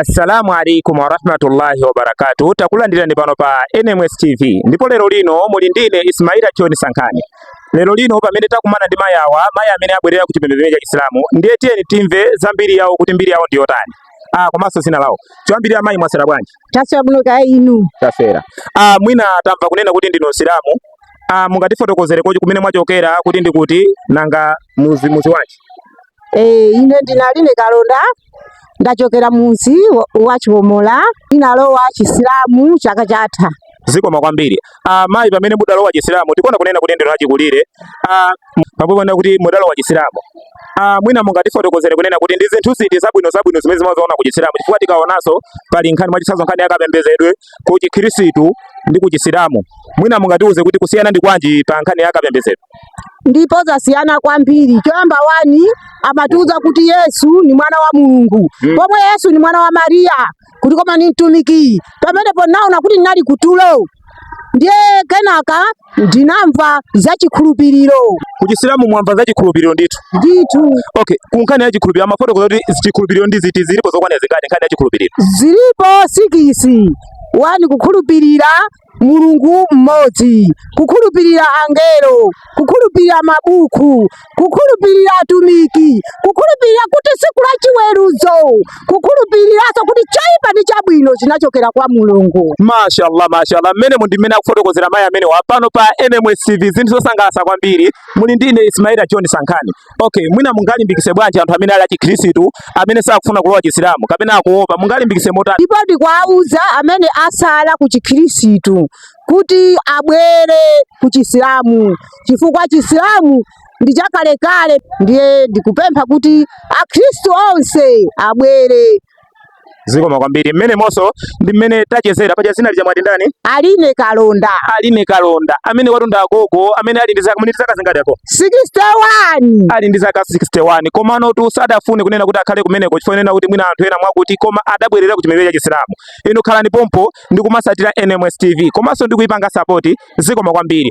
Assalamu alaikum warahmatullahi wabarakatuh. Takulandirani pano pa NMS TV ndipo lero lino muli ndine Ismaila John Sankhani. Lero lino pamene takumana ndi mayi awa, mayi amene abwerera ku chipembedzo cha Islamu, ndiye tiyeni timve za mbiri yawo kuti mbiri yawo ndi yotani. Ah, komanso zina lawo. Choyambirira mayi mwaswera bwanji? taswera bwino kaya inu taswera ah, mwina tamva kunena kuti ndinu msilamu ah, mungatifotokozere kuti kumene mwachokera kuti ndi kuti, nanga muzi muzi wanji Eh, ine ndi Aline Kalonda ndachokera muzi wa- wa chiwomola ndinalowa chisilamu chaka chatha zikomo kwambiri ah, mayi pamene mudalowa chisilamu tikuona kunena kuti ndinu achikulire ah, pambuyo pona kuti mudalowa chisilamu Ah, mwina mungatifotokozere kunena kuti ndi zinthu ziti zabwino zabwino zimene mumaziona ku chisilamu chifukwa tikaonanso pali nkhani mwachitsanzo nkhani yakapembedzedwe ku chikhristu ndi ku chisilamu mwina mungatiuze kuti kusiyana ndi kwanji pa nkhani yakapembedzedwe ndipo zasiyana kwambiri choyamba wani amatiuza kuti yesu ni mwana wa mulungu mm. pomwe yesu ni mwana wa mariya kuti koma ni mtumiki pamenepo naona kuti ndinali kutulo ndiye kenaka ndinamva za chikhulupiriro kuchisilamu mwamva za chikhulupiriro ndithu ndithu okay kunkhani ya chikhulupiriro amafotokoza kuti chikhulupiriro ndi ziti zilipo zokwana zingati nkhani ya chikhulupiriro zilipo sikisi wani kukhulupirira mulungu mmodzi, kukhulupirira angelo, kukhulupirira mabuku, kukhulupirira atumiki, kukhulupirira kuti tsiku la chiweruzo, kukhulupiriranso kuti choipa ndi chabwino chinachokera kwa mulungu. Mashallah, mashallah. Mmenemo ndi mmene akufotokozera mayi amenewa pano pa NMS TV zinthu zosangalatsa kwambiri. Muli ndi ine Ismaila John Sankhani. Okay, mwina mungalimbikise bwanji anthu amene ali achikhristu amene sakufuna kulowa chisilamu kapena akuopa mungalimbikise motani? Ndipo ndikuwauza amene asala ku chikhristu kuti abwere ku chisilamu chifukwa chisilamu ndi chakalekale, ndiye ndikupempha kuti akhristu onse abwere. zikomo kwambiri mmenemonso ndi mmene tachezera paja zina lija mwati ndani aline kalonda aline kalonda amene watunda agogo amene ali ndi zaka mwini zaka zingati ako 61 ali ndi zaka 61 komanotu sadafune kunena kuti akhale kumeneko chifukwa nena kuti mwina anthu ena mwakuti koma adabwerera ku chipembedzo cha chisilamu inu khalani pompo ndi kumasatira NMS TV komanso ndi kuipanga sapoti zikomo kwambiri